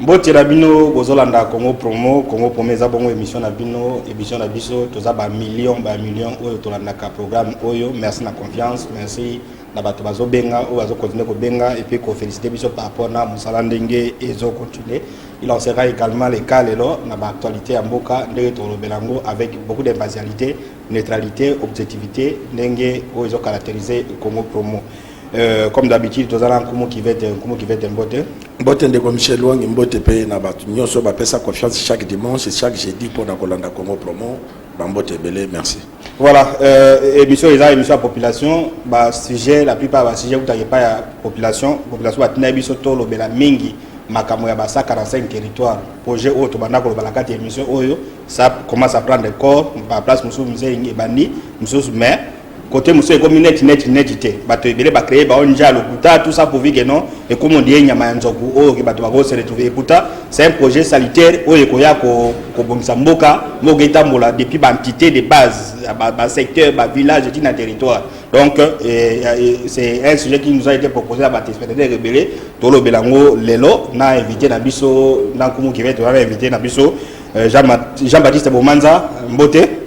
Mbote na bino bozolanda Congo Promo, Congo Promo eza bongo emission na bino, emission na biso toza ba millions ba millions oyo tolandaka programme oyo. Merci na confiance, merci na bato bazobenga oyo bazo continuer kobenga et puis ko féliciter biso par rapport na mosala ndenge ezo continuer. Il en sera également le cas lelo na ba actualités ya mboka ndenge tolobela yango avec beaucoup d'impartialité, neutralité, objectivité ndenge oyo ezo caractériser Congo Promo. Euh, comme d'habitude toza na nkumu kivete nkumu kivete mbote mbote ndeko michel wangi mbote mpe na bato nyonso bapesa confiance chaque dimanche chaque jeudi mpo na kolanda congo promo bambote ebele merci voilà euh, émission eza émission ya population basujet la plupart ya basujet kutaka epai ya population population batinda biso tolobela mingi makambo ya basa 45 territoire projet oyo tobanda koloba na kati ya émission oyo ça commence à prendre corps ba place mosusu mzee ebandi mosusu mais Cote mosusu ekomi neti neti neti te bato ebele ba cree bao nja lokuta tout ça pourvu que non ekomi ondie nyama ya nzoku oyo ke bato bako se retrouver et pourtant c'est un projet salitaire oyo ekoya kobongisa ko mboka mboka etambola depuis ba entité de base ba, ba secteur ba village ti na territoire donc euh, euh, c'est un sujet qui nous a été proposé na batéléspectateurs ebele tolobela yango lelo na invité na biso na nkumu kivete wana invité na biso euh, Jean-Baptiste Bomanza mbote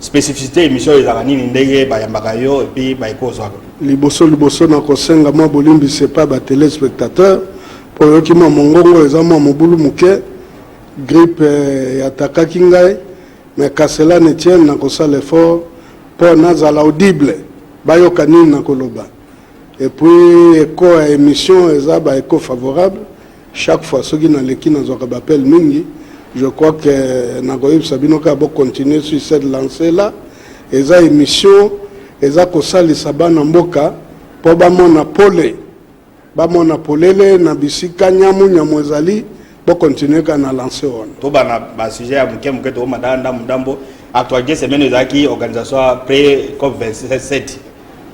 Specificité emission ezalaka nini ndenge bayambaka yo et puis baye kozwa liboso liboso na kosenga mwa bolimbisi epai ba telespectateur mpo oyoki mwa mongongo eza mwa mobulu moke gripe eh, yatakaki ngai me kasela netiene na kosala effort mpo nazala audible bayoka nini nakoloba epuis eko ya émission eza ba eko favorable Chaque fois soki naleki nazwaka ba appel mingi je crois que euh, nakoyebisa bino kaka bocontinue sur cette lancée là eza émission eza kosalisa bana mboka mpo bamona pole bamona polele na bisika nyamu nyamu ezali bocontinue kaka na lance wana tobana basujet ya moke moke tokomata ndambo ndambo actualité semaine ezalaki organisation ya pré cop 27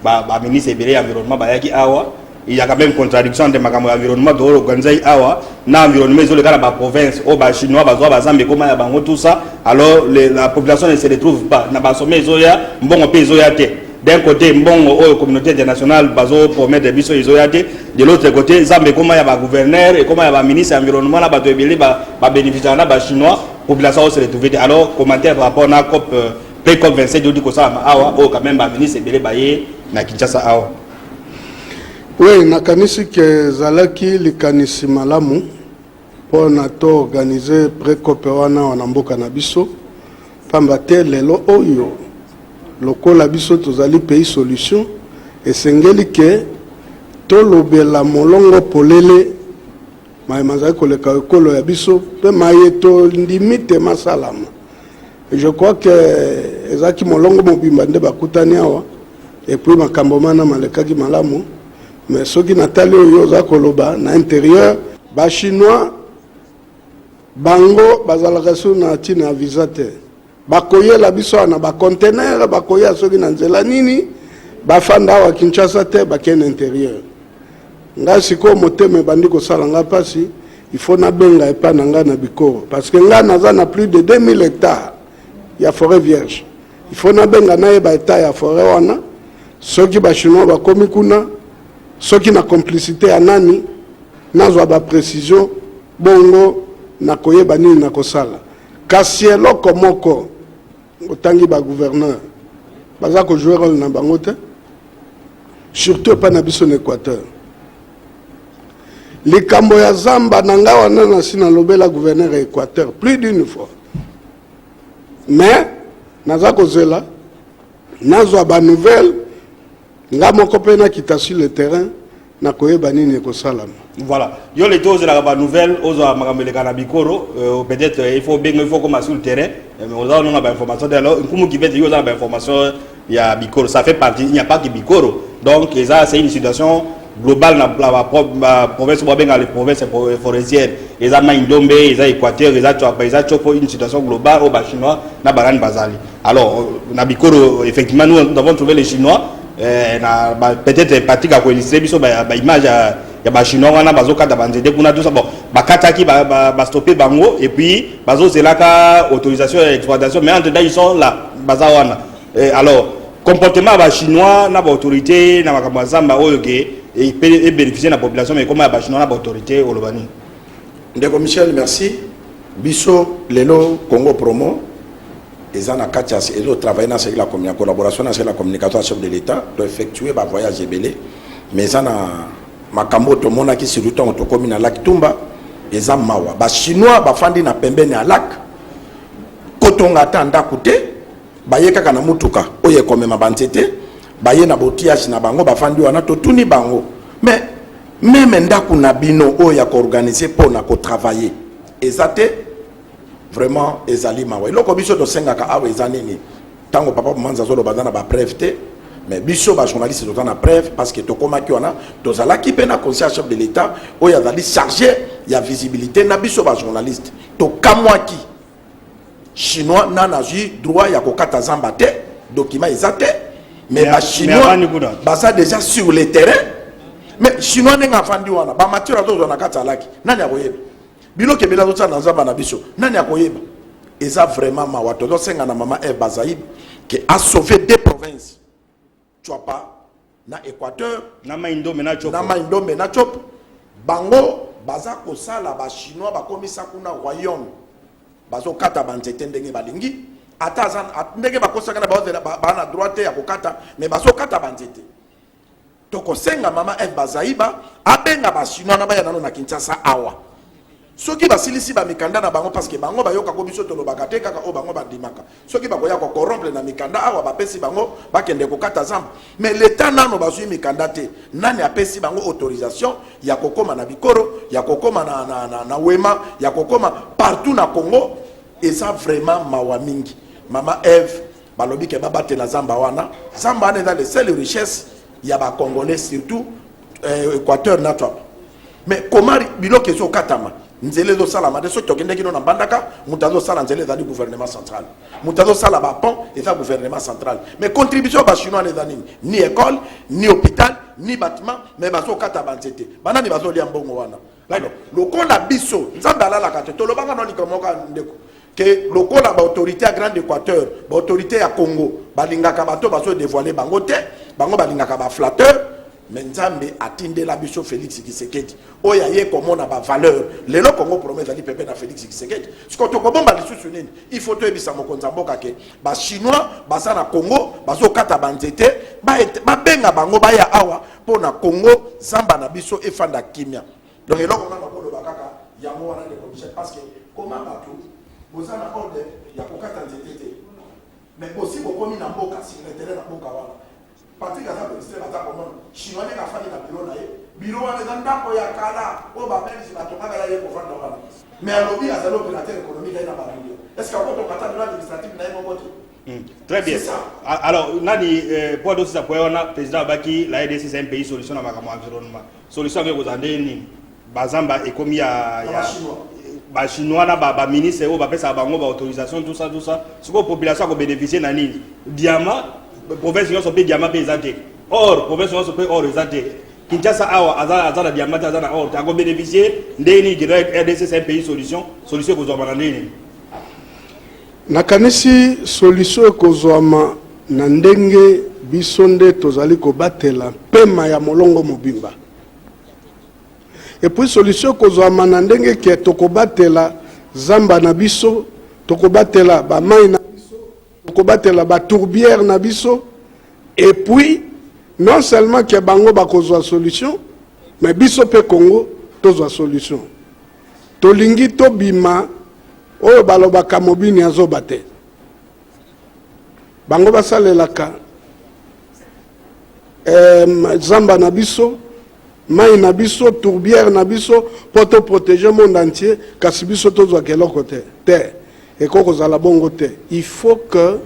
ba ba ministre ebele ya environnement bayaki awa il y a quand même contradiction entre makambo ya environnement to organiser awa na environnement ezole kala ba province au ba chinois ba zwa ba zambe koma ya bango tout ça alors les, la population ne se retrouve pas na ba sommet ezoya mbongo pe ezoya te d'un côté mbongo oyo communauté internationale bazo promettre biso ezoya te de l'autre côté zambe koma ya ba gouverneur ekoma ya ba ministre ya environnement na bato ebele ba, ba bénéficiaka na ba chinois population se retrouve te alors commentaire par rapport na cop euh, Pe COP 27 odi kosalama awa oyo quand même ba ministre ebele baye na Kinshasa awa. Oui, nakanisi ke ezalaki likanisi malamu mpo na to organise precope wana wana mboka na biso mpamba te lelo oyo lokola biso tozali pays solution esengeli ke tolobela molongo polele maye mazali koleka ekolo ya biso mpe maye tondimi te masalama Je crois que ezalaki molongo mobimba nde bakutani awa epuis makambo mana malekaki malamu mais soki natali oyo oza koloba na interieur bachinois bango bazalaka sur na ntina ya visa te bakoyela biso awa na bacontenaire bakoya soki na nzela nini bafanda awa kinshasa te bakende interieur ngai sikoyo motema ebandi kosala ngai mpasi Il faut na benga epa na nga na bikoro parce que nga naza na plus de 2000 hectares ya forêt vierge. Il faut na benga na yeba etat ya forêt wana soki ba chinois bakomi kuna soki na complicité ya nani nazwa ba précision bongo na koyeba nini na kosala kasi eloko moko otangi ba gouverneur baza ko jouer rôle na bango te surtout epa na biso na équateur Likambo ya zamba na nga wana nasi nalobela gouverneur ya Equateur plus d'une fois mais naza kozela nazwa ba nouvelle nga moko mpe nakita sur le terrain nakoyeba nini ekosalama voilà yo lete ozelaka ba nouvelle ozwa makambo eleka na bikoro euh, peut-être euh, il faut obenga il faut okoma sur le terrain euh, mais oza ononga ba information te alors nkumu kibete yo oza na ba information ya bikoro ça fait partie il n'y a pas que bikoro donc eza c'est une situation globale na ba province bo benga les provinces forestières eza mai ndombe eza équateur eza tshwapa eza tshopo une situation globale au ba chinois na barani bazali alors euh, na bikoro effectivement nous, nous avons trouvé les chinois euh, na ba, peut-être pratique à coïncider biso ba, ba image ya, ya ba chinois wana bazokata banzete kuna tout ça bon bakataki ba, ba, ba stopper bango et puis bazo zelaka autorisation ya exploitation mais entre temps ils sont là baza wana eh, alors comportement ya bachinois na baautorité na makambo ya zamba oyo ke ebénéficie na population mais ekoma ya bachinois na baautorité oloba nini ndeko michel merci biso lelo congo promo eza na kati ya ezo travaille na sekela ya collaboration na sekela communication ya chef de l'état to effectue bavoyage ebele mais eza na Makambo oyo tomonaki surtout ntango tokomi na lac Tumba eza mawa. Ba chinois bafandi na pembeni ya lac, kotonga ata ndako te, baye kaka na motuka oyo ekomema banzete, baye na botiyage na bango bafandi wana. Totuni bango mais meme ndako na bino oyo ya koorganize mpo na kotravailler eza te. Vraiment ezali mawa. Eloko biso tosengaka awa eza nini? Tango papa Manza azo loba na ba preuve te mais biso ba journaliste toza na preuve parce que tokomaki wana tozalaki mpe na conseil chef de l'état oyo azali chargé ya visibilité na biso ba journaliste tokamwaki chinois na nazwi droit ya kokata zamba te document eza te mais ba chinois baza déjà sur le terrain mais chinois ndenge afandi wana bamatiere azozwa na kati alaki nani akoyeba bino kebele azotya na nzamba na biso nani akoyeba eza vraiment mawa tozosenga na mama eve bazaib ke asauve de province cwapa na équateur na mai ndombe na copo na mai ndombe na copo bango baza kosala bachinois bakomisa kuna royaume bazokata banzete ndenge balingi ata ndenge bakosaka na baozela bana droit te ya kokata mais bazokata banzete tokosenga mama Eve Bazaiba abenga basinois na baya nano na Kinshasa awa soki basilisi bamikanda na bango parceke bango bayokako biso tolobaka te kaka oyo bango bandimaka soki bakoya kokorompre na mikanda awa bapesi bango bakende kokata zamba mais leta nano bazwi mikanda te nani apesi bango autorisation ya kokóma na bikoro ya kokóma na, na, na, na wema ya kokóma partout na congo eza vraiment mawa mingi mama eve balobi ke babatela zamba wana zamba wana eza le seul richesse ya ba congolais surtout euh, équateur na twapa mais komari biloko ezokatama nzela ezosalama te soki tokendeki no na mbandaka moto azosala nzela ezali gouvernement central moto azosala bapont eza gouvernement central mais contribution ya bachinois na eza nini ni école ni hôpital ni batiment mais bazokata banzete banani bazolia mbongo wana Alors, lokola biso, Nzambe alalaka te, tolobaka na likambo moko ndeko ke lokola baautorité ya grande équateur baautorité ya congo balingaka bato bazo dévoile bango te bango balingaka baflatteur me nzambe atindela biso félix kisekedi oyo aye komona bavaleur lelo congo problème ezali pepe na félix kisekedi siko tokobomba lisusu nini il faut toyebisa mokonzi ya mboka ke bachinois baza na congo bazokata banzete babenga bango baya awa mpo na congo zamba na biso efanda kimia donc eloko nga nakoloba kaka yango wana ndeko michel parce que koma bato boza na ordre ya kokata nzete te mais bosi bokomi na mboka secretaire na mboka wana patrik aza ministre aza komona chinois ndenge afandi na biro na ye biro wana eza ndako ya kala oyo babelge batongaka ya ye kovanda wana mais alobi azali opérateur économique aye na bamilio est ce que akotokata biro administrative na ye moko te Hmm. Très bien. Alors, nani euh, poids d'eau sisa poids wana président abaki la RDC c'est un pays solution na makambo environnement. Solution avec kozala ndenge nini? Bazamba ekomi ya ya ba chinois na ba, ba ministre oyo bapesaka bango ba autorisation tout ça tout ça. Sikoyo population akobénéficie na nini? Diamant province nyonso mpe diamant mpe eza te. Or province nyonso mpe or eza te. Kinshasa awa aza aza na diamant aza na or te akobénéficie ndenge nini? RDC c'est un pays solution. Solution ekozwama na ndenge nini? Nakanisi solisyo ekozwama na ndenge biso nde tozali kobatela mpema ya molongo mobimba. Epuis solisyo ekozwama na ndenge ke tokobatela zamba na biso, tokobatela bamai na biso, tokobatela batourbiere na biso, epuis non seulement ke bango bakozwa solisyo, me biso mpe Kongo tozwa solisyo. Tolingi tobima oyo balobaka mobini azoba te bango basalelaka eh, zamba na biso mai na biso tourbière na biso mpo to protéger monde entier kasi biso tozwaka eloko te te ekoki kozala bongo te il faut que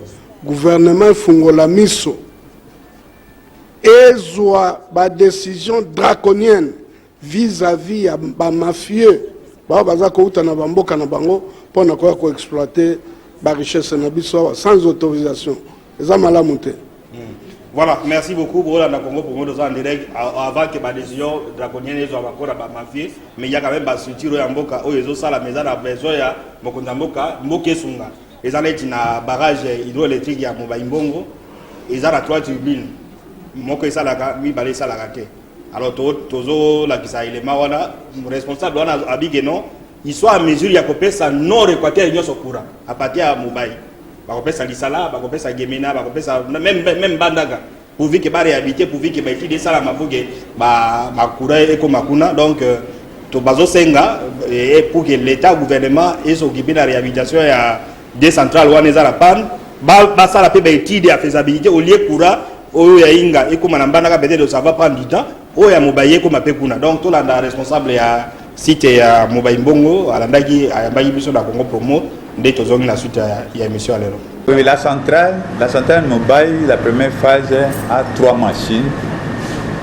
gouvernement efungola miso ezwa badécision draconienne vis à vis ya ba mafieux bao baza kouta na ba mboka na bango mpo na koya ko exploiter ba richesse na biso awa sans autorisation eza malamu te hmm. Voilà, merci beaucoup. Voilà, la Congo pour moi, nous en direct avant que ma décision draconienne les avoir quoi ma mafia, mais il y a quand même ma structure en boca, oh ils ont ça la maison la besoin ya mokunda boca, moke sunga. Ils allaient na barrage hydroélectrique ya Mobaïmbongo, ils allaient à trois tribunes. Moke ça la mi balé ça la raté. alors tozolakisa elema wana responsable wana abike non il soit à mesure ya kopesa nord équateur nyonso courant à partir ya mobai bakopesa lisala bakopesa gemena bakopesa même, même bandaka pourvu ke baréhabilité pourvu ke baétude esalama pour ke bacourant ekoma kuna donc euh, bazosenga eh, pour ke l'état gouvernement ezokipe na réhabilitation ya de central wana eza na panne basala mpe baétude ya faisabilité olie courant oyo ya inga ekóma na mbandaka peut-être ça va prendre du temps oyo ya mobaye ekóma mpe kuna donc tolanda responsable ya site ya mobayi mbongo alandaki ayambaki biso na congo promo nde tozongi na suite ya émission ya lelo Oui, la centrale, la centrale mobile, la première phase a trois machines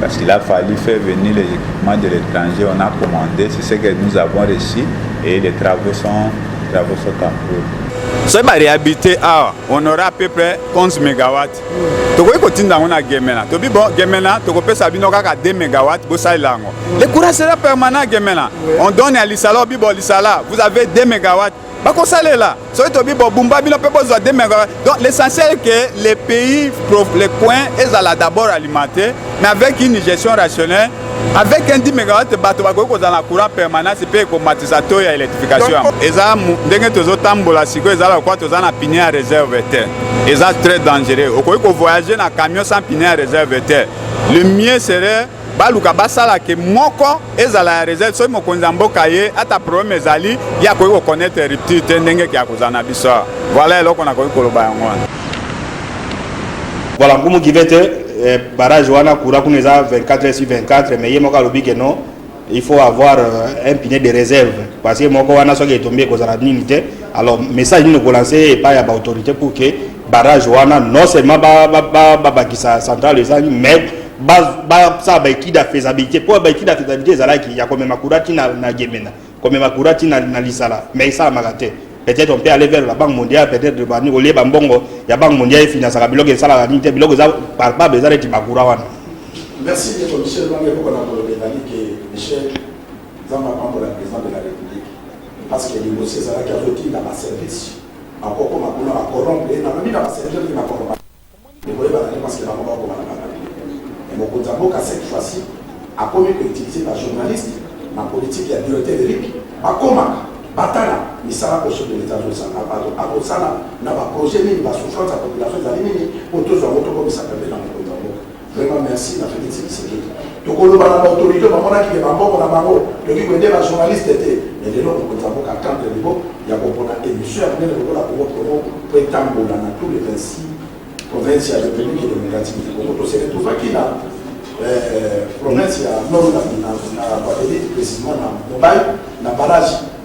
Parce qu'il a fallu faire venir les équipements de l'étranger, on a commandé, c'est ce que nous avons reçu et les travaux sont, travaux sont en cours. soki barehabite awa on aura à peu près 11 mégawatt tokoki kotinda yango na gemena tobi bon gemena tokopesa bino kaka 2 mégawatt bosalela yango le courant sera permanent gemena on donne ya lisala obi bon lisala vous avez 2 mégawatt bakosalela soki tobi bobumba bino mpe bozwa demeka donc l'essentiel que les pays les coins ezala d'abord alimenté mais avec une gestion rationnelle avec un 10 megawatt bato bakoki kozala na courant permanence mpe ekomatisa to ya électrification yango eza ndenge tozotambola sikoyo eza lokola toza na pine ya réserve te eza très dangereux okoki kovoyage na camion sans pine ya réserve te le mieux serait baluka basala ke moko ezala ya reserve soki mokonzi ya mboka ye ata problème ezali ye akoki koconnaître rupture te ndenge ke akozala na biso awa voilà eloko nakoki koloba yango wana voilà nkumu give te eh, barrage wana courant kuna eza 24 sur 24 mais ye moko alobi ke non il faut avoir euh, un pine de réserve parce que moko wana soki etombi ekozala nini te alors message nini okolanse epai ya baautorité pour ke barrage wana non seulement babakisa ba, ba, ba centrale ezangi mais basala baekide ya faisabilité mpo baekide ya faisabilité ezalaki ya komema kura ti na, na gemena komema kura ti na, na lisala mais esalamaka te peut-être on peut aller vers la banque mondiale peut-être bani olie bambongo ya banque mondiale efinasaka biloko esalaka nini te biloko eza palpable eza neti bakura wana merci ndeko michel bange koko na koloba ezali ke michel nzambe apambola président de la république parce que libosi ezalaki azotinda baservice akokoma kuna bakorompre nalobi na baservice na korompa Ndeko oyebaka te parce que bango ba koma na ba papier mais mokonzi ya mboka cette fois ci akomi ko utiliser ba journalistes na politique ya directeur Eric ba komaka ba tala misala Boso de l'etat azo sala azo sala na ba projets nini ba souffrance ya population ezali nini po tozua ngo to komisa pembeni na mokonzi ya mboka Vraiment merci na Felix Tshisekedi. Tokoloba na autorité bamonaki ke bambongo na bango toki koyede ba journaliste te mais lelo mokonzi ya mboka atendre libo ya kopona émission ya monene lokola Congo Promo mpo etambola na tous les 26 province ya République démocratique du Congo tose retrouvaki na province ya Nord na Guadeloupe précisément na Mobile na barrage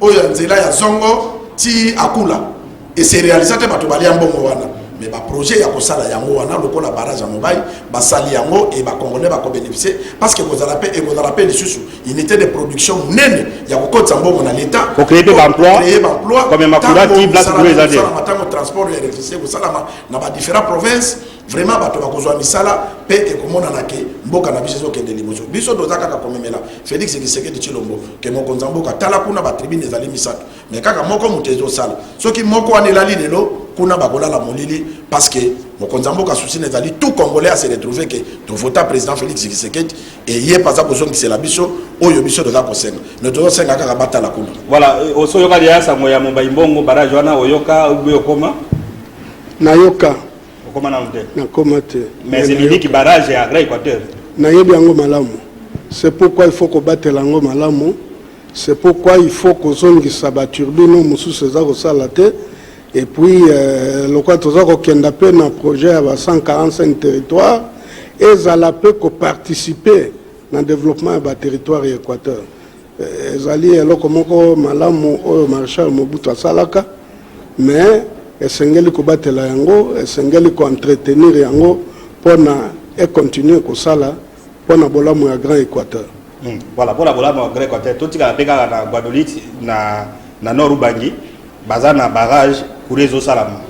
oyo ya nzela ya zongo ti akula ese realisa te bato balia mbongo wana me baprojet ya kosala yango wana lokola barrage ya mobai basali yango e bacongolais bakobénéficie parce que ekozala mpe ekozala mpe lisusu unité de production monene ya kokotisa mbongo na leta créer baemploi ntango transport ya électricité ekosalama na badifférent province Vraiment bato bakozwa misala pe ekomonana ke mboka na biso ezokende liboso. Biso toza kaka komemela Felix Tshisekedi Tshilombo ke mokonzi ya mboka. Tala kuna ba tribune ezali misato mais kaka moko moto ezosala. Soki moko wana elali lelo kuna bakolala molili parce que mokonzi ya mboka souci na ezali tout congolais a se retrouver ke tovota président Felix Tshisekedi eye mpe aza kozongisela biso oyo biso toza kosenga mais tozosenga kaka batala kuna. Voilà, osoyoka liya sango ya Mobayi Mbongo barrage wana oyoka obi okoma? Nayoka. okoma nanu te nakoma te mais eliniki barrage ya agra équateur nayebi yango malamu c'est pourquoi il faut kobatela yango malamu c'est pourquoi il faut kozongisa baturbine oyo mosusu eza kosala te et puis euh, lokola toza kokenda mpe na projet ya ba 145 territoire ezala mpe koparticipe na développement ya baterritoire ya équateur Ezali eloko moko malamu oyo Marechal Mobutu asalaka, mais esengeli kobatela yango, esengeli ko entretenir yango pona e continuer kosala pona bolamu ya Grand Equateur. Hum voilà pona bolamu ya Grand Equateur totikala pe kaka na Guadolite na na Nord Ubangi baza na barrage courant ezosalama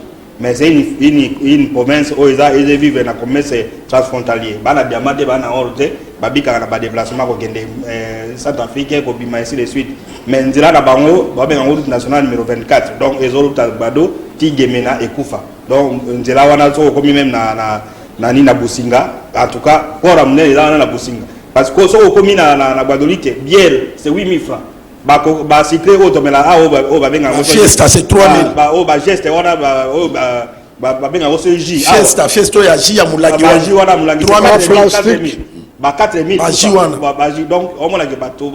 Mais c'est une, une, une province oyo eza eza vivre na commerce transfrontalier. Bana diamant te, bana or te, babikaka na ba déplacement kokende euh, Centre Afrique kobima ainsi de suite. Mais nzela na bango babenga route nationale numéro 24. Donc ezoluta Bado ti Gemena ekufa. Donc nzela wana soko komi même na na na ni na Businga. En tout cas, port amne eza wana na Businga. Parce que soko komi na na, na Badolite, bière c'est 8000 francs. ba ba sucre oyo tomela a oyo oyo babenga yango fiesta c'est 3000 ba oyo ba geste wana ba oyo ba babenga yango so jus fiesta fiesta oyo ya jus ya molangi wana jus wana molangi 3000 ba 4000 ba jus wana ba jus donc omonaki bato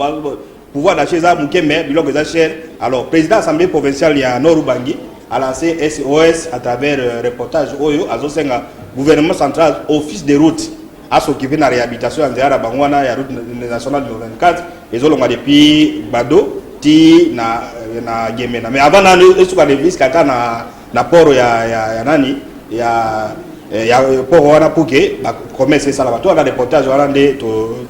pouvoir d'achat eza moke mais biloko eza cher alors président assemblée provinciale ya nord ubangi a lancé sos à travers euh, reportage oyo azosenga gouvernement central office de route a s'occuper na réhabilitation ya nzela na bango wana ya route nationale numéro 24 ezolonga depuis bado ti na na gemena mais avant na esuka de visque ata na na port ya ya, ya nani ya eh, ya port wana pour que ba commerce esala bato wana reportage wana nde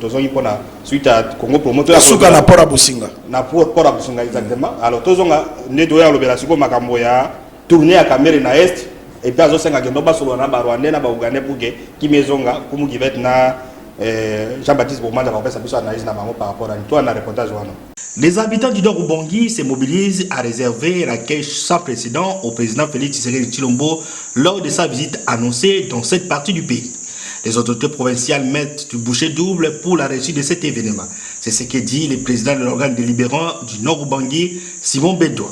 tozongi mpo na suite ya congo promo tosuka na port ya bosinga na port ya bosinga exactement alors tozonga nde toya kolobela sikoyo makambo ya Tournee ya Kamerhe na Est et puis azosenga kendo basolola na ba Rwandais na ba Ougandais pour que kimia ezonga kumu kivete na eh, Jean-Baptiste Bomanda bakopesa biso analyse na bango par rapport à toi na reportage wana. Les habitants du Nord Ubangi se mobilisent à réserver la caisse sans précédent au président Félix Tshisekedi Chilombo lors de sa visite annoncée dans cette partie du pays. Les autorités provinciales mettent du boucher double pour la réussite de cet événement. C'est ce que dit le président de l'organe délibérant du Nord Ubangi, Simon Bédois.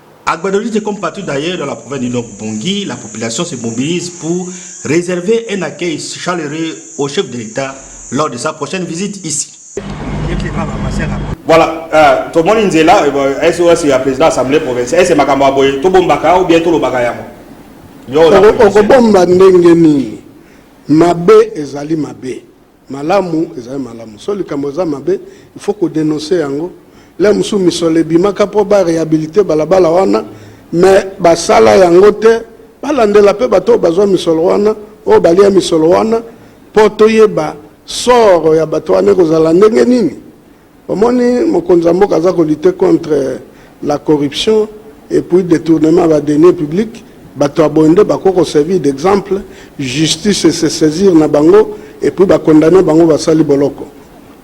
À Guadolite, comme partout d'ailleurs dans la province du Nord Bongi, la population se mobilise pour réserver un accueil chaleureux au chef de l'État lors de sa prochaine visite ici. Voilà, euh, tomoni nzela euh, SOS ya président assemblée provinciale ese makambo ya boye tobombaka ou bien tolobaka yango okobomba ndenge nini mabe ezali mabe Malamu ezali malamu soki likambo eza mabe il faut ko denoncer yango lelo mosusu misolo ebimaka mpo ba rehabilite balabala wana me basala yango te balandela mpe bato oyo bazwa misolo wana oyo balia misolo wana mpo toyeba soro ya bato wana ekozala ndenge nini Omoni mokonzi ya mboka aza ko lutter contre la corruption et puis detournement ya ba deniers publics, batu ya boye nde bakoki ko servir d'exemple, justice e se saisir na bango et puis ba condamner bango basali boloko.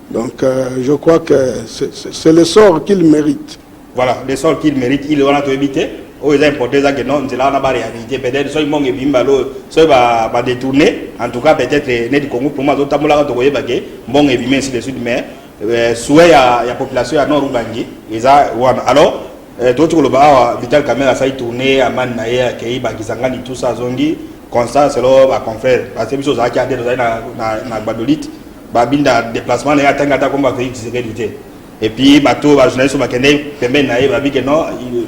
Donc, je crois que c'est le sort qu'il merite. Voilà, le sol qu'il mérite, il wana toyebi te. Oyo eza importé eza que non, nzela wana ba réalité peut-être soki mbongo ebimi ba lo, soki ba ba détourner, en tout cas peut-être eh, neti Congo pour moi azo tambola ka tokoyeba que mbongo ebimi ainsi de suite mais euh, souhait ya ya population ya Nord Ubangi eza wana. Alors euh, toti koloba awa Vital Kamerhe asali tourner amani na ye akei bakisangani tout ça azongi constat selon ba confrères parce que biso ozalaki ate tozali na na, na Gbadolite babinda déplacement na ye atangi ata komba Félix Tshisekedi te. Et puis bato ba journaliste bakende pembeni na ye babi ke non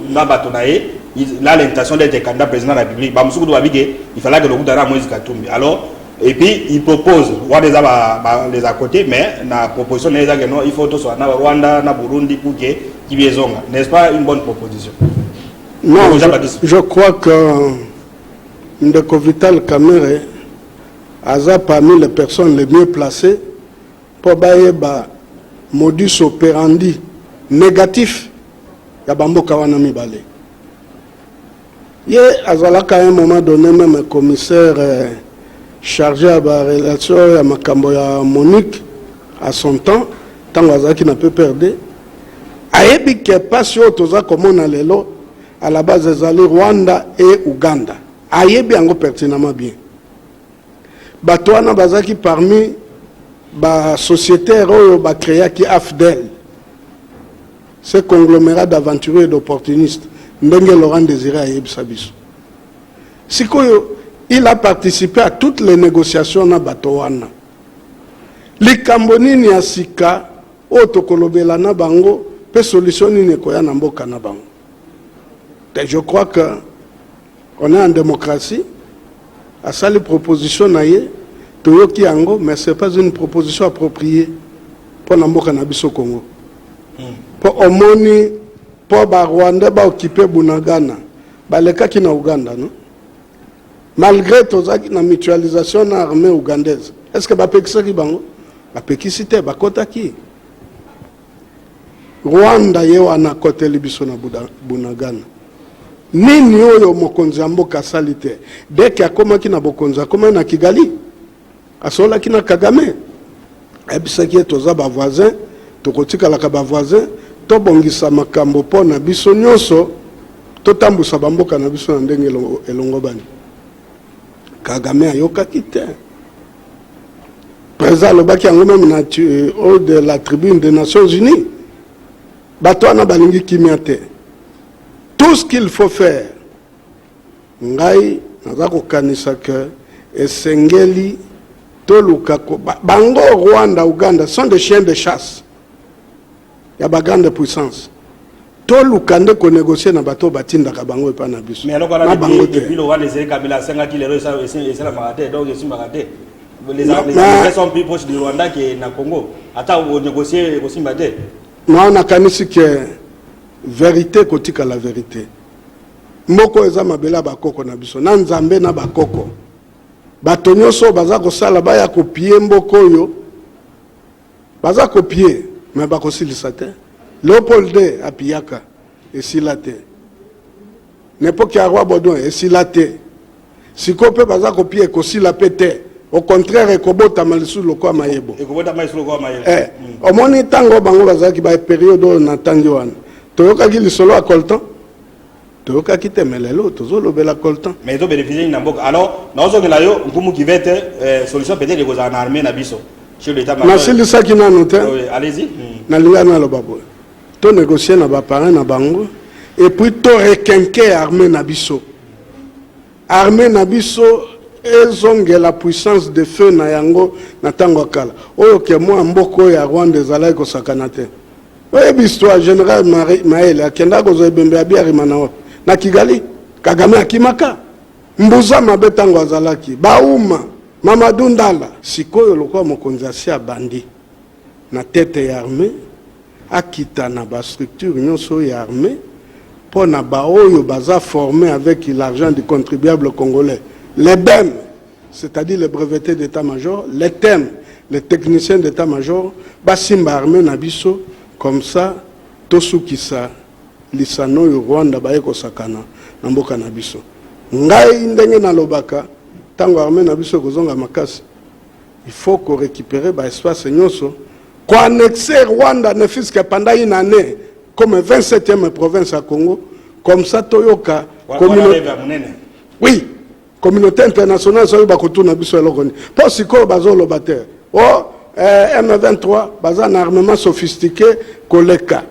na bato na ye il a l'intention d'être candidat président de la République bamosusu kutu babi ke il fallait akende okuta na Moïse Katumbi alors et puis il propose wana eza ba, ba, les à côté mais na proposition na ye eza ke non il faut toswa na Rwanda na Burundi pour que kibi ezonga n'est-ce pas une bonne proposition non je, je crois que ndeko Vital Kamerhe aza parmi les personnes les mieux placées Mpo bayeba modus operandi negatif ya ba mboka wana mibale. Ye azalaka à un moment donne meme commissaire euh, charge ya ba relation ya makambo ya Monique à son temps ntango azalaki na PPRD ayebi ke mpasi oyo toza komona lelo à la base ezali Rwanda et Ouganda ayebi yango pertinemment bien Bato wana bazalaki parmi ba societaires oyo ba creaki AFDL, ce conglomerat d'aventurieux et d'opportunistes, ndenge Laurent Desire ayebisa biso. Sikoyo, il a participe à toutes les negociations na bato wana. Likambo nini ya sika oyo tokolobela na bango mpe solution nini ekoya na mboka na bango? Je crois que On est en democratie. Asali proposition na ye, toyoki yango, mais c'est pas une proposition appropriée mpo na mboka na biso Congo. Mpo hmm. omoni mpo ba Rwandais ba occuper Bunagana, balekaki na Ouganda, non? Malgré tozaki na mutualisation na armée ougandaise, est-ce que bapekisaki bango? Bapekisi te, bakotaki. Rwanda ye wana akoteli biso na Bunagana. Nini oyo mokonzi ya mboka asali te? Dès que akomaki na bokonzi akomaki na Kigali? Asololaki na Kagame? Ayebisaki ye toza ba voisins, tokotikalaka ba voisins, tobongisa makambo mpo na biso nyonso, totambusa ba mboka na biso na ndenge elongobani. Kagame ayokaki te. Président alobaki yango meme na haut de la tribune des Nations Unies. Bato wana balingi kimia te. Tout ce qu'il faut faire ngai naza kokanisa que esengeli toluka bango Rwanda, Ouganda sont des chiens de chasse. ya ba grande puissance toluka nde ko negocier na bato batindaka bango epai na biso na bango te na nakanisi ke verite kotikala verite moko eza mabele ya bakoko na biso na nzambe na bakoko bato nyonso oyo baza kosala baya kopie mboka oyo Baza ko pie mais bako silisa te leopold de a piyaka esila te nepoki ya roi bodon esila te siko pe baza ko pie ekosila pe te au contraire ekobotama lisusu lokola mayebo eh, mm. omoni ntango bango bazalaki ba periode oyo na ntangi wana toyokaki lisolo ya coltan Toyokaki te mais lelo tozo lobela coltan. Mais ezo beneficie nini na mboka? Alors nazo zongela yo Nkumu Kivete, eh, solution peut-être ekozala na armee na biso. Chez l'etat major. Nasilisaki nanu te. Oui, allez-y. Hmm. Nalinga naloba boye. To négocier na ba parents na bango et puis to requinquer armée na biso. Armée na biso ezongela puissance de feu na yango na ntango ya kala oyo ke mwa mboka oyo ya rwanda ezalaki kosakana te Oyebi histoire general Maele akenda kozwa ebembe ya Biarimana wapi? Na Kigali. Kagame akimaka mbuza mabe ntango azalaki bauma Mamadou Ndala. Sikoyo lokola mokonzi asi abandi na tete ya armee akita na ba structure nyonso ya armee mpo na baoyo baza forme avec l'argent du contribuable congolais les bem c'est-à-dire les brevetes d'etat major, les tem, les techniciens d'etat major basimba armee na biso comme ça tosukisa lisano oyo Rwanda baye kosakana na mboka na biso. Ngai ndenge nalobaka ntango armee na biso ekozonga makasi il faut ko récupérer ba espace nyonso ko annexer Rwanda ne fût-ce que pendant une année comme 27e province ya Congo comme ça toyoka communauté oui Communaute internationale soki bakotuna biso eloko nini? Mpo sikoyo bazoloba te o oh, eh, M23 baza na armement sophistiqué koleka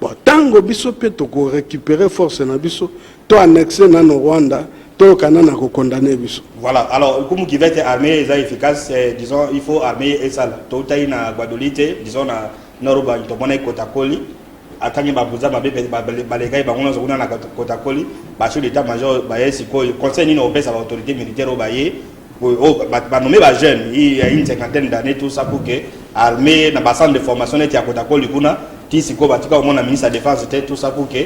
bon, ntango biso mpe tokorecupere force na biso to annexe nano Rwanda toyokana na kokondane biso voilà alors comme kivete armée eza efficace eh, disons il faut armée esala toutaki na guadoli te disons na norobangi tomonaki kotakoli akangi ba buza mabe balekaki bango nyonso kuna na kotakoli bachef d'état major baye sikoyo conseil nini opesa baautorité militaire oyo baye banome bajeune ya une cinquantaine d'année tout ça pour que armée na bacentre de formation neti ya kotakoli kuna ti sikoyo batika komona ministre ya défense te tout ça pour que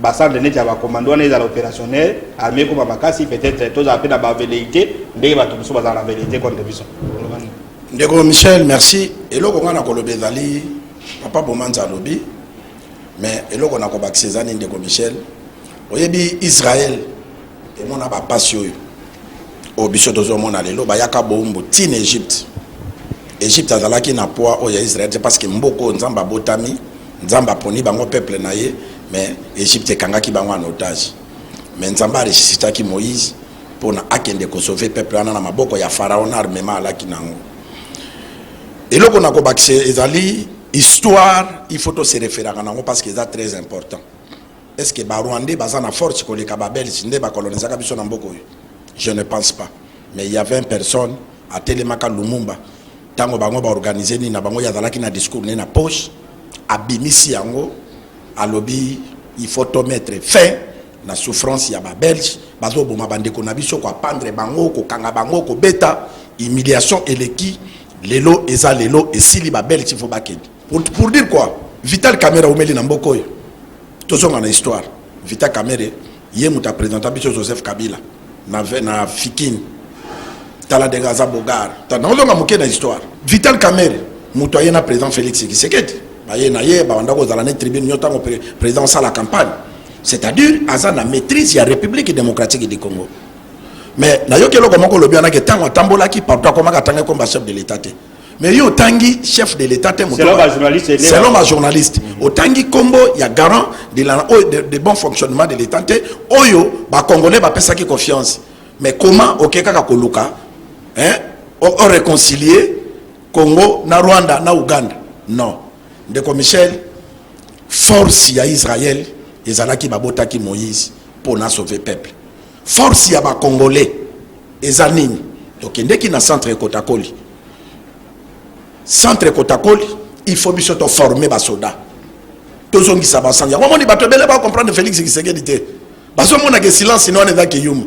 bacentre neti ya bacommando wana ezala opérationnel armée ekoma makasi peut-être tozala mpe na baveleité ndenge bato mosusu bazala na veleité contre biso ndeko michel merci eloko ngai nakoloba ezali Papa Bomanza alobi mais eloko na kobakisa eza nini ndeko Michel oyebi Israël emona bapasi oyo oyo biso tozomona lelo bayaka boumbu ti na Egypte Egypte azalaki na poids oyo ya Israël te parce que mboka oyo Nzambe abotami Nzambe aponi bango peuple na ye mais Egypte ekangaki bango en otage mais Nzambe aresisitaki Moïse mpona akende kosauve peuple wana na maboko ya Pharaon na armement alaki na yango eloko na kobakisa ezali histoire il faut tose referaka nango parce que eza très important est ce que barwandais baza na force koleka babelge nde bakolonisaka biso na mboka oyo je ne pense pas mais il y avait une personne atelemaka lumumba ntango bango baorganize nini na bango ye azalaki na discours ne na poche abimisi yango alobi il faut tomettre fin na souffrance ya ba belge bazo boma ba ndeko na biso ko apandre bango ko kanga bango ko beta humiliation eleki lelo eza lelo esili ba belge faut bakende pour, pour dire quoi vital camera omeli na mboko oyo tozonga na histoire vital camera ye moto apresenta biso joseph kabila na, na fikin tala ndenge aza bogar naozonga moke na histoire vital camera moto aye na président félix kisekedi baye na ye bawanda kozala ne tribune nyo ntango président osala campagne c'est-à-dire aza na maîtrise ya république démocratique du congo mais nayoki eloko moko olobi wana ke ntango atambolaki partout akomaka atanga ekomba chef de l'état te mais yo otangi chef de l'état te selon ma journaliste mm -hmm. otangi nkombo ya garant de, la, oh, de, de bon fonctionnement de l'état te oyo bacongolais bapesaki confiance mais comment oke kaka koluka hein, o, o réconcilier congo na rwanda na ouganda non Ndeko Michel, force ya Israël ezalaki babotaki Moïse pour na sauver peuple. Force ya ba Congolais eza nini? Tokendeki na centre Kotakoli. Centre Kotakoli, il faut biso to former ba soda. Tozongisa ba sanja. Wamoni bato ebele ba comprendre Felix Tshisekedi te. Bazomona ke silence no wana eza kiyuma.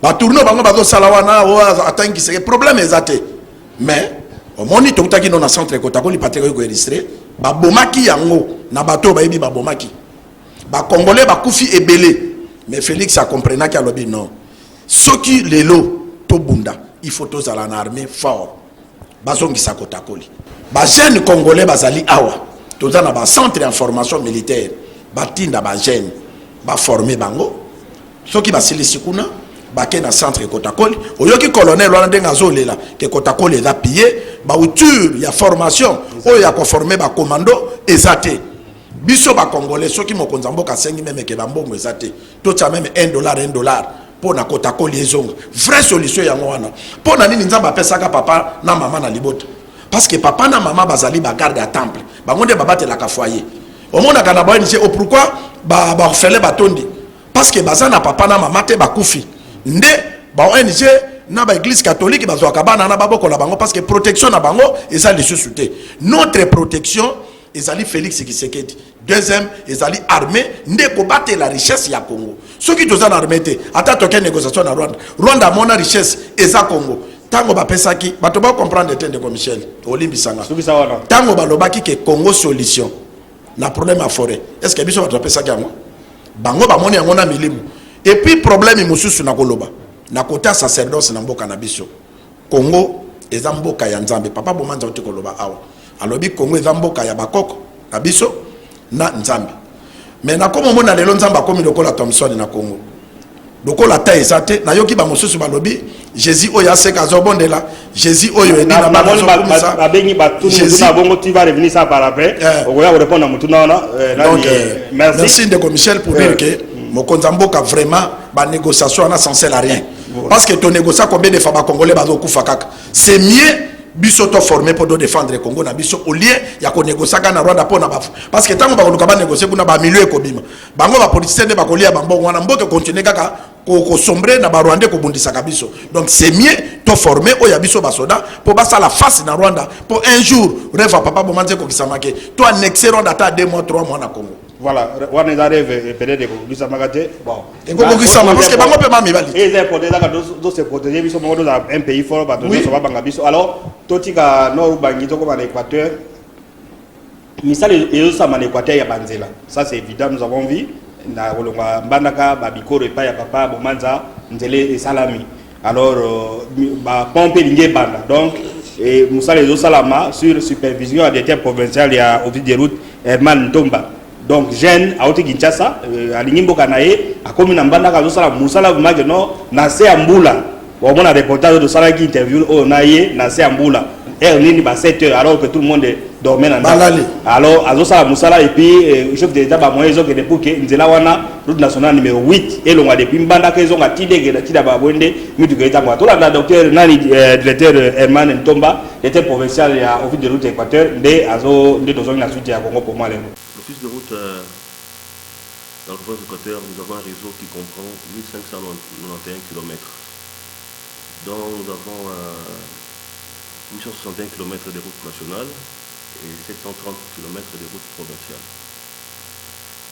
ba tourno bango bazosala wana atangi kiseke problème eza te mais omoni toutaki no na centre ekotakoli pateka oyo koelistre babomaki yango na bato oyo bayebi babomaki bakongole bakufi ebele mais félix akomprenaki alobi non soki lelo tobunda il faut tozala na armée fort bazongisa kotakoli bajeune congolais bazali awa toza na bacentre ya formation militaire batinda bajeune baforme bango soki basilisi kuna bake na centre kotakoli oyoki colonel wana ndenge azolela ke kotakoli eza piye bauture ya formation oyo ya koforme bacommando eza te biso bakongole soki mokonzi ya mboka asengi memeke bambongo eza te totya meme 1 dollar 1 dollar mpo na kotakoli ezonga vraie solution yango wana mpo na nini nzambe apesaka papa na mama na libota parce que papa na mama bazali bagarde ya temple bango nde babatelaka foyer omonaka na baonise o oh, pourkui baorfele batondi parce que baza na papa na mama te bakufi nde baong na baeglise catholique bazwaka bana na babokola bango parce que protection na bango eza lisusu te notre protection ezali félix kisekedi Deuxième, ezali armée nde la richesse ya Congo. Ceux qui toza na armée te, ata toke négociation na Rwanda. Rwanda mona richesse eza Congo. Tango ba pesaki, bato ba comprendre te ndeko Michel. Olimbisanga. Tango ba lobaki ke Congo solution na problème à forêt. Est-ce que biso bato ba pesaki yango? Bango ba moni yango na milimu. Et puis problème mususu na koloba. Na kota sacerdoce na mboka na biso. Congo eza mboka ya Nzambe. Papa Bomanza auti koloba awa. Alobi Congo eza mboka ya bakoko na biso na Nzambe. Mais nakoma omona lelo Nzambe akomi lokola Thomson na Congo. lokola ata eza te nayoki bamosusu balobi jésus oyo aseka azobondela jésus oyo edinababengi batunabongo tu va revenir ça par après eh. okoya korépondre na motuna wana eh, donc euh, merci ndeko michel pour dire eh. que mokonzi ya mboka vraiment banégociation wana sancel à rien parce que to negocia combien de fois ba congolais bazokufa kaka c'est mieux biso to forme mpo todefendre congo na biso au lieu ya konegociaka na rwanda mpo na bafu parce que ntango bakoluka banegocie kuna bamilio ekobima bango bapolitisien nde bakolia bambongo wana mboka ekontinue kaka kosombre na barwandais kobundisaka biso donc c'est mieux to forme oyo ya biso basoda mpo basala face na rwanda mpo un jour reva papa bomanzi ekokisamake to annexe rwanda ata 2 mois 3 mois na congo Voilà, wana eza rêve peut-être ekokisamaka te. Bon. Ekokokisama parce que bango pe mami bali. Et c'est pour ezaka do se protéger biso moko toza un pays fort ba tozo soba banga biso. Alors totika nord bangi toko ba l'Équateur. Misala ezo sama na Équateur ya banzela. Ça c'est évident nous avons vu na kolonga mbandaka ba bikoro epai ya papa Bomanza nzele esalami. Alors euh, ba pompe elingi ebanda donc et mosala ezosalama sur supervision ya directeur provincial ya office de route Herman Ntomba donc jeune auti Kinshasa euh, alingi mboka na ye akomi na mbandaka azosala mosala vraiment que non na se ya mbula omona reportage tosalaki interview oyo na ye na se ya mbula heure nini ba 7 heures alors que tout le monde dormait na ndako alors azosala mosala et puis euh, chef de l'état ba moyen ezokende pour que nzela wana route nationale numero 8 elonga depuis mbandaka ezonga ti degela ti daba boye nde mituka etangwa tolanda docteur nani euh, directeur euh, herman ntomba directeur provincial ya office de route ya équateur nde azo nde tozongi na suite ya congo pour moi lelo l'office de route euh, dans la province équateur nous avons un réseau qui comprend 1591 km dont nous avons euh, 861 km de route nationale et 730 km de route provinciale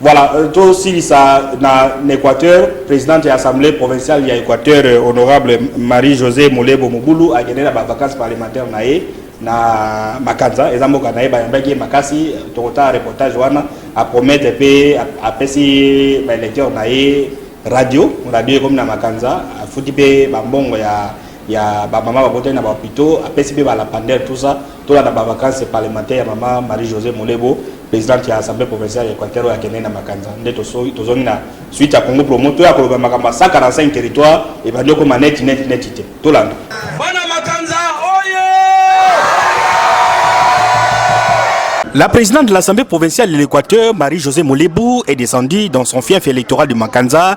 Voilà, euh, tosilisa na Equateur, présidente ya assemblée provinciale ya Equateur, euh, honorable Marie-Josée Molebo Mobulu, akende na ba vacances parlementaires na ye na Makanza, eza mboka na ye bayambaki ye makasi, tokotala reportage wana, apromete mpe apesi ba électeurs na ye radio, radio ekomi na Makanza, afuti mpe bambongo ya ya bamama babotaki na bahopitaux, apesi mpe balapandere tout ça Tolanda ba vacances parlementaires ya mama Marie Josee Molebo, presidente ya Assemblee provinciale ya Equateur oyo akendeki na Makanza. Nde tozongi na suite ya Congo Promo. Toya koloba makambo ya 145 territoires ebandi okoma neti neti neti te. Tolanda. La présidente de l'Assemblée provinciale de l'Équateur, Marie-Josée Molebou, est descendue dans son fief électoral de Makanza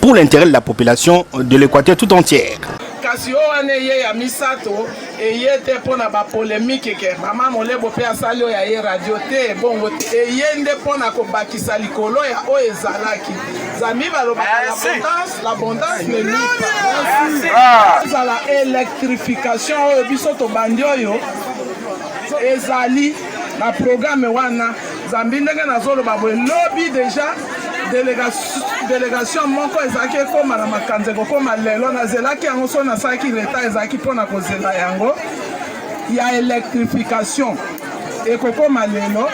pour l'intérêt de la population de l'Équateur tout entière. kasi oyo wana eye ya misato eye te mpo na bapolemike ke mama molebo mpe asali oyo aye radio te bongo te eye nde mpo na kobakisa likolo ya oyo ezalaki zambi balobaka l'abondance l'abondance ne nuit pas ezala électrification oyo biso tobandi oyo ezali na programe wana zambi ndenge nazoloba boye lobi deja delegation moko ezalaki ekóma na makanza ekokóma lelo nazelaki yango soki nasalaki leta ezalaki mpo na kozela yango ya elektrification ekokóma lelo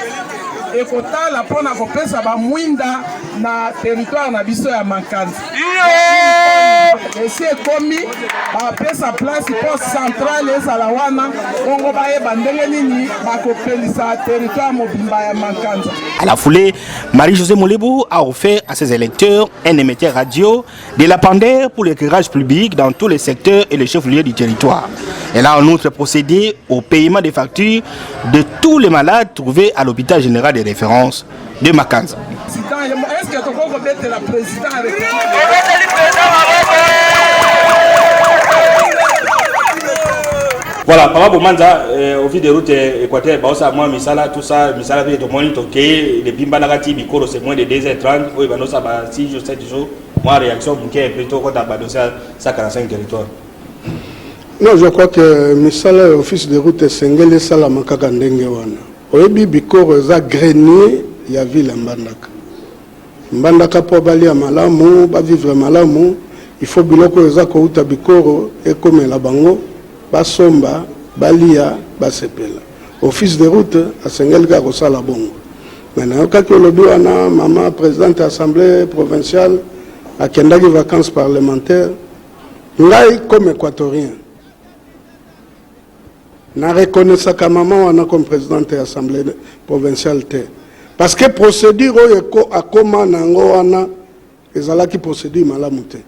ekotala mpo na kopesa bamwinda na teritware na biso ya makanza esi ekomi bapesa place mpo centrale ezala wana bongo bayeba ndenge nini bakopelisa territoire mobimba ya makanza à la foulée marie-josé molebu a offert à ses électeurs un émetteur radio de la pandère pour l'éclairage public dans tous les secteurs et les chefs-lieux du territoire elle a en outre procédé au paiement des factures de tous les malades trouvés à l'hôpital général de référence de makanza voilà papa bomanza euh, au vide de route euh, équateur baosa mwa misala tout ça misala mpe tomoni tokei lebimbanaka ti bikolo c'est moins de 2 h 30 oyo banosa ba 6 jours 7 jours mwa réaction moke mpe tokota badosi ya 145 territoire non je crois que misala ya office de route esengeli esalama kaka ndenge wana Oyebi bikoro eza grenier ya ville ya mbandaka mbandaka po balia malamu ba vivre malamu il faut biloko oyo eza kowuta bikoro ekomela bango basomba balia basepela office de route asengeli kaka kosala bongo me nayokaki olobi wana mama presidente ya assemblée provinciale akendaki vacances parlementaire ngai comme équatorien Na reconnaissaka maman wana comme presidente ya assemblee provinciale te parce que procedure oyo akoma na yango wana ezalaki procedure malamu te.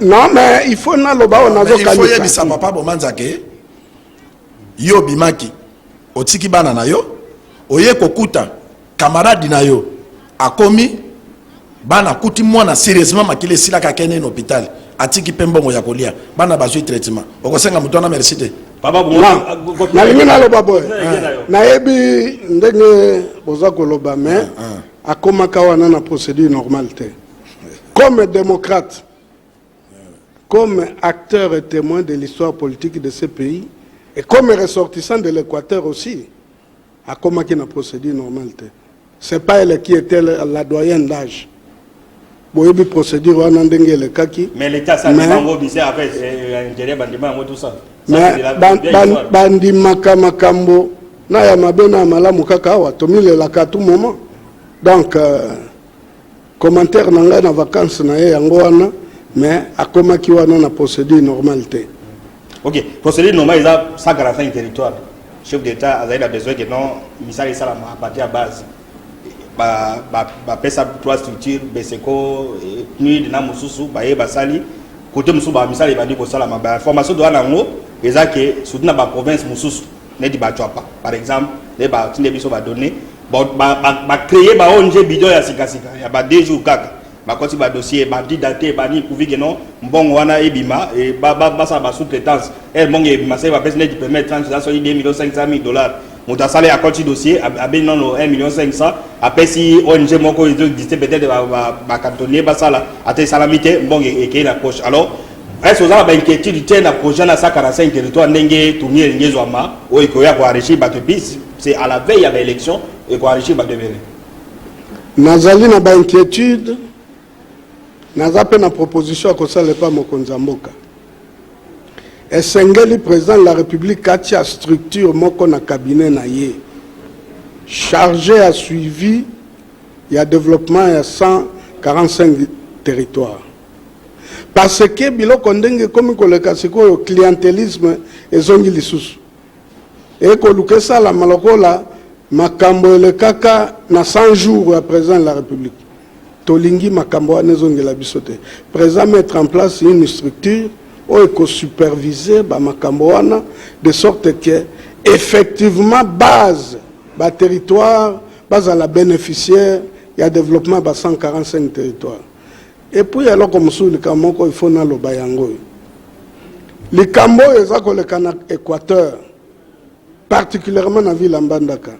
Non mais il faut naloba oyo nazokanisa. Il faut yebisa papa Bomanza ke yo obimaki otiki bana na yo oye kokuta camarade na yo akomi bana akuti mwana serieusement makila esilaka akende na hôpital atiki mpe mbongo ya kolia bana bazwi traitement okosenga moto wana merci te nalingi naloba boye nayebi ndenge boza koloba mais ah, ah. akomaka wana na procédure normale te comme démocrate Comme acteur et temoin de l'histoire politique de ce pays et comme ressortissant de l'Equateur aussi, akomaki na procédure normale te. C'est pas elle qui était la doyenne d'âge. boyebi procédure wana ndenge elekaki mais l'État ça mais bango bizarre après euh, intérêt bandima yango tout ça bandimaka makambo na ya mabe na ya malamu kaka awa tomilelaka tout moment donc euh, Commentaire na ngai na vacances na ye yango wana mais akomaki wana na procédure normale te. Ok, procédure normale eza 145 territoire. Chef d'État azali na besoin que non misala esalama à partir ya base. Ba ba ba pesa trois structures Beseco, PNUD na mosusu baye basali côté mosusu ba misala ebandi kosalama ba formation doa nango eza que surtout na ba provinces mosusu neti bacwapa par exemple nde batinde biso badonne bacreye ba ong bidon ya sikasika ya ba deux jours kaka bakoti badossier bandi date bani kuvike no mbongo wana ebima e, basala basous-traitance ere mbongo ebima seke bapesi neti permet tranche eza soki 2 million 500 000 dollars moto asali akoti dossier abeni nano 1 million 500 apesi ong moko ezo existe peut-être bacantonnier basala ata esalami te mbongo ekei na poche alors Est-ce oza na ba inquiétude te na projet na 145 territoire ndenge tourni elingi ezwama oyo ekoya ko enrichir bato epice c'est à la veille ya ba élection eko enrichir bato ebele nazali na ba inquiétude naza mpe na proposition ya kosala epa mokonzi ya mboka esengeli président de la république atia structure moko na cabinet na ye chargé ya suivi ya développement ya 145 territoire parce que biloko ndenge ekomi koleka sikoyo clientelisme ezongi lisusu ekoluka esalama lokola makambo elekaka na 100 jours ya président de la république tolingi makambo wana ezongela biso te président mettre en place une structure oyo ekosupervise bamakambo wana de sorte que effectivement base baterritoire bazala bénéficiaire ya développement ba 145 territoire Et puis eloko mosusu likambo moko il faut naloba yango oyo likambo oyo eza koleka na Equateur particulièrement na ville ya Mbandaka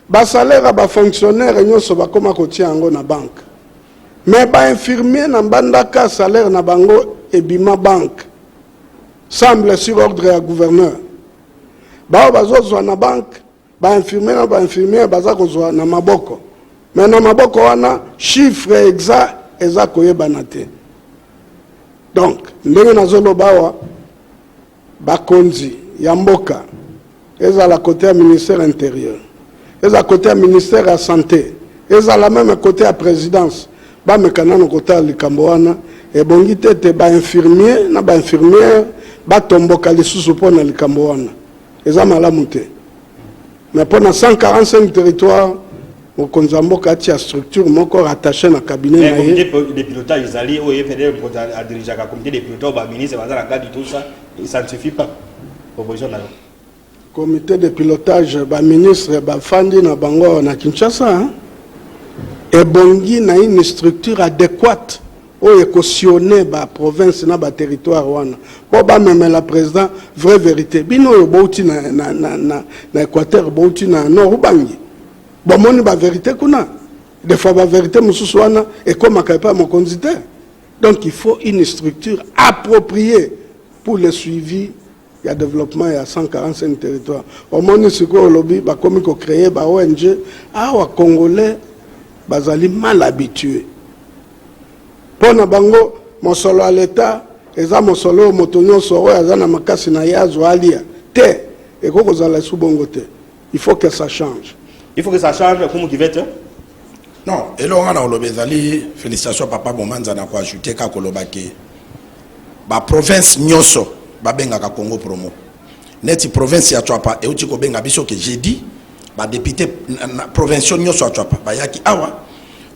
basalaire ya bafonctionnaire nyonso bakoma kotia yango na banke me bainfirmier na mbandaka salaire na bango ebima banke semble sur ordre ya gouverneur baoyo bazozwa na banke ba infirmier na ba infirmière baza kozwa na maboko mais na maboko wana chiffre exact eza koyebana te donc ndenge nazoloba awa bakonzi ya mboka ezala kote ya ministère intérieur ezala kote ya ministère ya santé ezala meme kote ya présidence bameka nano kotala likambo wana ebongi te ete bainfirmier na bainfirmière batomboka lisusu mpo na likambo wana Eza malamu te. Mais mpo na 145 territoire mokonzi ya mboka atia structure moko rattache na cabinet na ye de pilotage ezali oyo ye fedele mokonzi adirigeaka comité de pilotage baministre baza na kati tout ça ça ne suffit pas proposition na yo comité de pilotage baministre bafandi na bango na kinshasa ebongi na une structure adéquate oyo eko sionner ba provinces na ba territoires wana po ba memela president vraie verite bino oyo bowuti na na na na na equateur bowuti na nord ubangi bomoni ba verite kuna des fois ba verite mosusu wana ekomaka epai ya mokonzi te donc il faut une structure appropriée pour le suivi ya developpement ya 145 territoire omoni sikoyo olobi bakomi ko cree ba ong awa congolais bazali mal habitue mpo na bango mosolo ya leta eza mosolo oyo moto nyonso oyo aza na makasi na ye azwa alia te ekoki kozala esu bongo te Il faut que ça change. Il faut que ça change comme kivete. Non, eloko nga na koloba ezali félicitation papa Bomanza na ko ajouter ka koloba ke ba province nyonso babengaka Congo promo. Neti province ya Tshuapa euti kobenga biso ke jeudi ba députés provinciaux nyonso ya Tshuapa bayaki awa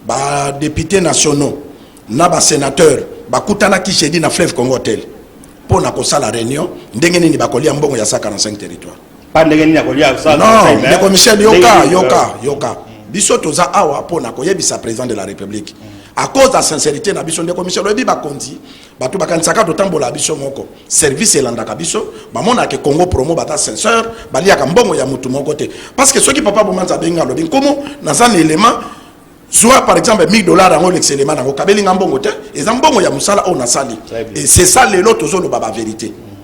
ba députés nationaux na ba sénateurs bakutanaki jeudi na fleuve Congo hotel mpo na kosala réunion ndenge nini bakolia mbongo ya 145 territoire pa ndenge nini akolia non ndeko michel yoka yoka euh, yoka biso toza awa mpo na koyebisa président de la république à cause ya sincérité na biso ndeko michel oyebi bakonzi bato bakanisaka totambola biso moko service elandaka biso bamonaka congo promo bata sinceur baliaka mbongo ya motu moko te parce que soki papa bomanza abengi alobi nkomo naza na élément zwa par exemple 1000 dollars yango olekisa élément nango kabelinga mbongo te eza mbongo ya mosala oyo nasali et c'est ça lelo tozoloba bavérité mm.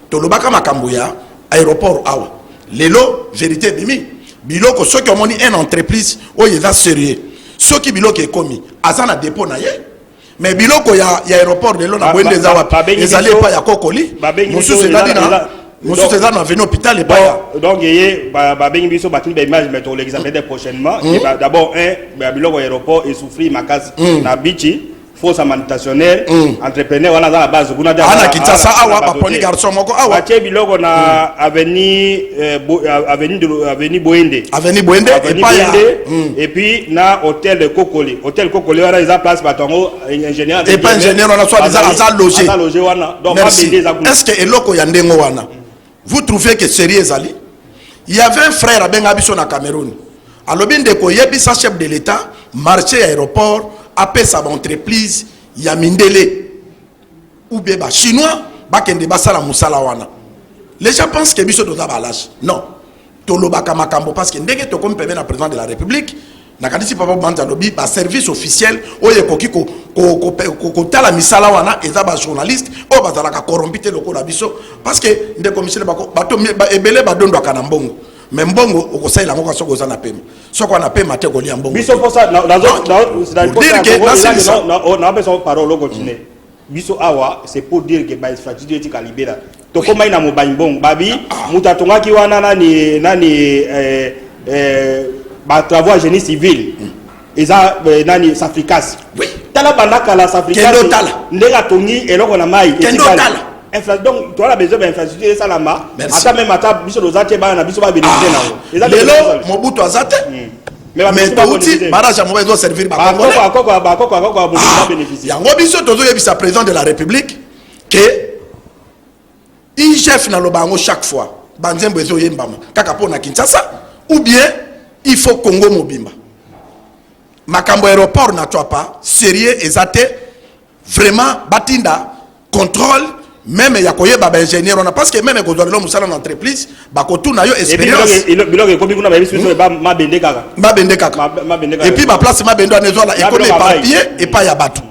tolobaka makambo ya aéroport awa lelo verité ebimi biloko soki omoni un entreprise oyo eza sérieux soki biloko ekomi aza na dépôt na ye mais biloko ya, ya aéroport lelo na bwende eza wapi ezali epai ya kokoli mosusu ezali na mosusu eza na venu hôpital epaya donc eye babengi biso batindi baimage mais tokolekisa peut-être prochainement hmm. d'abord un biloko ya aéroport esouffrir makasi hmm. na bichi faux amantationnaire mm. entrepreneur wana aza na base kuna te ana kinshasa awa baponi garçon moko awa atie biloko na mm. avenue euh, euh, avenue de avenue boende avenue boende avenue boende mm. et puis na hôtel de kokoli hôtel kokoli wana eza place bato yango euh, ingénieur et pas ingénieur wana soit aza loger aza loger wana donc ba bende eza kuna est-ce que eloko ya ndenge wana mm. Vous trouvez que sérieux ezali? Il y avait un frère abenga biso na Cameroun. Alobi ndeko yebisa chef de l'État marché ya aéroport apesa ba entreprise ya mindele ou bien ba chinois bakende basala musala wana. Les gens pensent que biso toza ba lâche. Non. tolobaka makambo parce que ndenge tokomi pembe na président de la république nakanisi papa banza alobi baservice officiel oyo ekoki kotala misala wana eza bajournaliste oyo bazalaka corrompi te lokola biso parce que ndeko misele bato ebele badondwaka na mbongo me mbongo okosalela yango soki oza na pema soki wana pema te kolia mbongo biso mposa nadirke nasilisa napesa parole okontine biso awa c'est pour dire que ba infrastructure etika libela tokomai na mobanyi bongo babi moto atongaki wana nani nani eh, eh, ba travaux ya génie civil eza eh, nani safricas Oui. tala banda kala safricas Kende otala. ndenge atongi eloko na mai Kende etikali. otala. Infra- donc toala besoin ba infrastructure esalama Merci. ata meme ata biso toza te bana na biso babénéficie Ah, nango Eza te lelo toza- mobutu aza te mais touti barrage ya mobali ezo servir bayango biso tozoyebisa président de la république ke igf naloba yango chaque fois banzembo ezoyembama kaka mpo na kinshasa ou bien il faut congo mobimba makambo aéroport na cwapa sérieux eza te vraiment batinda contrôle meme ya koyeba ba ingénieur wana parce que meme kozwa lelo mosala na entreprise bakotuna yo expérience biloko ekomi kuna bayebisi biso hmm? mabende kaka mabende kaka et puis baplace mabende wana ezwala ekomi epapiye epai ya bato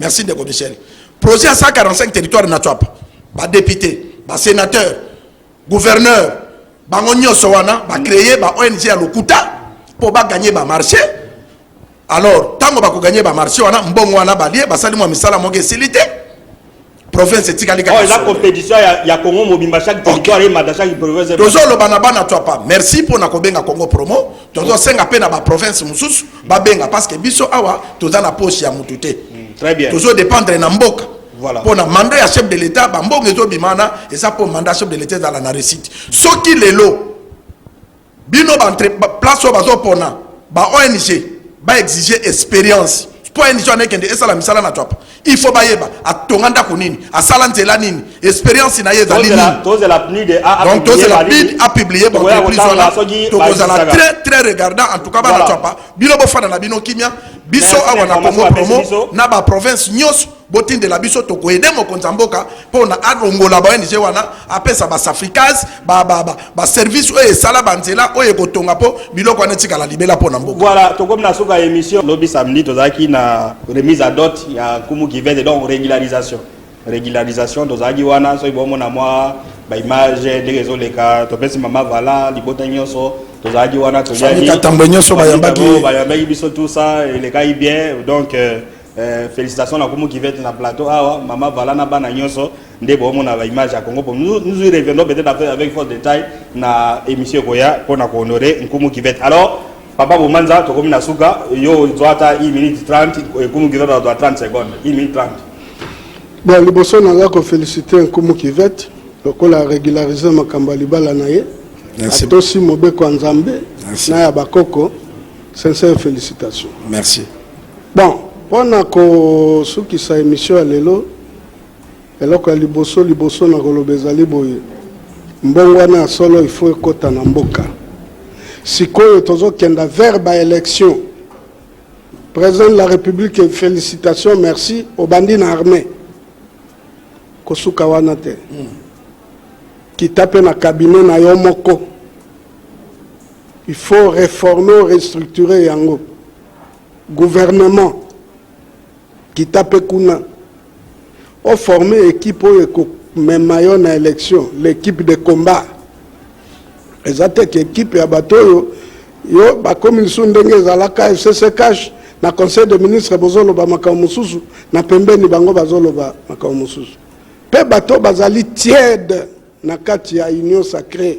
merci ndeko michel projet ya 145 territoire na tswapa badepute basénateur gouverneur bango nyonso wana ba créer ba ONG ya lokuta mpo ba gagner ba marché alors ntango bako gagner ba marché wana mbongo wana balie basali mwa misala moko esili te province etikali kaka oh, eza compétition ya, ya congo mobimba chaque territoire okay. emata chaque province tozoloba na bana to apa merci mpo na kobenga congo promo tozosenga mpe na baprovince mosusu babenga parce que biso awa toza na poche ya motu te mm, très bien tozodépendre na mboka Voilà. Pour le mandat ya chef de l'État, bambongo ezo bimana, et ça pour mandat chef de l'État dans la réussite. Ce qui les lots, bino ba entre place au bazo pona, ba ONG, ba exiger expérience. Pour ONG on est kende, et ça la misala na top. Il faut ba yeba, a tonganda kunini, a salanze la nini, expérience na yeza nini. Toze la PNUD a Donc toze la PNUD a publié bon plus on a. Donc on a très très regardant en tout cas ba na top. Bino bo fana na bino kimia, biso awa na Congo promo, na ba province nyos. botindela biso tokoede mokonzi ya mboka mpo na alongola ba ong wana apesa basafricas baservice oyo esala banzela oyo ekotonga mpo biloko wana etikala libela mpo na mboka voilà tokomi na suka ya émission lobi samedi tozalaki na remise à dot ya kumu kivete donc régularisation régularisation tozalaki wana soki bomona mwa baimage ndenge ezoleka topesi mama vala libota nyonso tozalaki wana toyaki nyonso bayambaki biso tout ça elekaki bien donc euh, Eh, félicitations na kumu kivete na plateau awa mama vala na bana nyonso nde boomona baimage ya congo nous, nous y reviendrons peut-être après avec force détail na émission ekoya mpo na kohonore nkumu kivete alors papa bomanza tokomi na suka yo ozwa ata 1 minute 30 eh, nkumu kivete azwa 30 seconde 1 minute 30 bon liboso na nga kofélicite nkumu kivete lokola régularise makambo ya libala na ye atosi mobeko ya nzambe na ya bakoko Sincère felicitation. Merci. Bon, pona ko sukisa emission ya lelo eloko ya liboso liboso na koloba ezali boye mbongo wana ya solo ifo ekota na mboka sikoyo tozokenda vers baélection président de la république félicitation merci obandi na armée kosuka wana te hmm. kita mpe na cabinet na yo moko Il faut reformer, restructurer yango. Gouvernement, kita pe kuna. O former équipe oyo ekomema yo na élection, l'équipe de combat. Eza te ke équipe ya bato oyo yo bakomi lisusu ndenge ezalaka FCC cash na conseil de ministre bozoloba makambo mosusu na pembeni bango bazoloba makambo mosusu mpe bato bazali tiede na kati ya union sacrée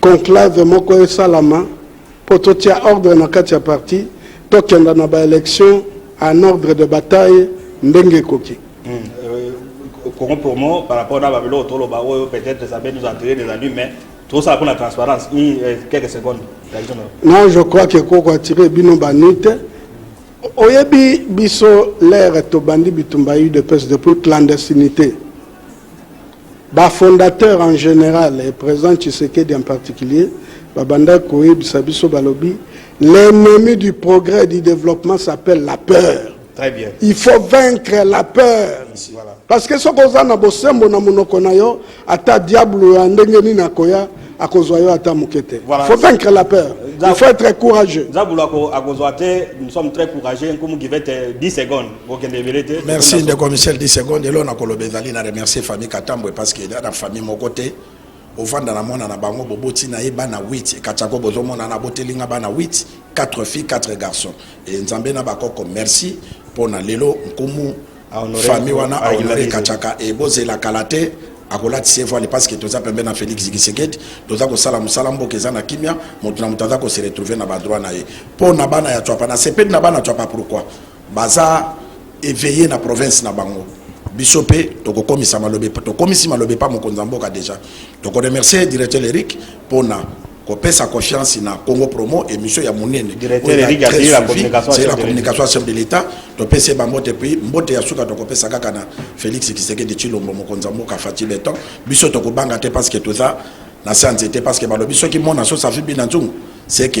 Conclave moko esalama mpo totia ordre na kati ya parti, tokenda na ba elections en ordre de bataille ndenge ekoki. Congo pour moi par rapport na babiloko toloba oyo peut-être ça peut nous attirer des ennuis mais tosala mpo na transparence i euh, quelques secondes réaction na yo. Non, je crois que koko attirer bino ba nuit te. Oyebi biso l'ère tobandi bitumba ya UDPS depuis clandestinité. Ba fondateurs en general et President Tshisekedi en particulier babandaki koyebisa biso balobi l'ennemi du progrès et du developpement s'appelle la peur. Très bien. Il faut vaincre la peur. Ici, voilà. Parce que soki oza na bosembo na monoko na yo, ata diablo ya ndenge nini akoya akozwa yo ata moke te. Voilà. Il faut vaincre la peur. Il faut être courageux. Zabulu ako- akozwa te, nous sommes très courageux, nkumu give it eh, 10 secondes. merci ndeko michel 10 seconde elo nakoloba ezali na remercier famille katambwe parce que eza na famille moko te ovanda na mwana na bango boboti na ye bana 8 ekatako bozomona na boteli nga bana 8 4 filles 4 garçons e nzambe na bakoko merci mpo na lelo nkumu famille wana ahonore ekataka e bozela kala te akolatisa evwale parce que toza pembe na félix gisekedi toza kosala mosala mboka eza na kimia moto na moto aza koseretrouve na badroit na ye mpo na bana ya cwapa na sepeli na bana cwapa pourquoi Baza eveille na province na bango. Biso pe tokokomisa malobe tokomisi malobe pa mokonzi ya mboka deja. Toko remercier directeur Eric pona kopesa confiance na Congo Promo emission ya munene. Directeur Eric asili la communication c'est la communication chef de l'État. Topese ba mbote puis mbote ya suka tokopesa kaka na Felix Tshisekedi Tshilombo mokonzi ya mboka Fatshi Beton. Biso tokobanga te parce que toza na sanze te parce que balobi soki mona so safi bina nzungu c'est que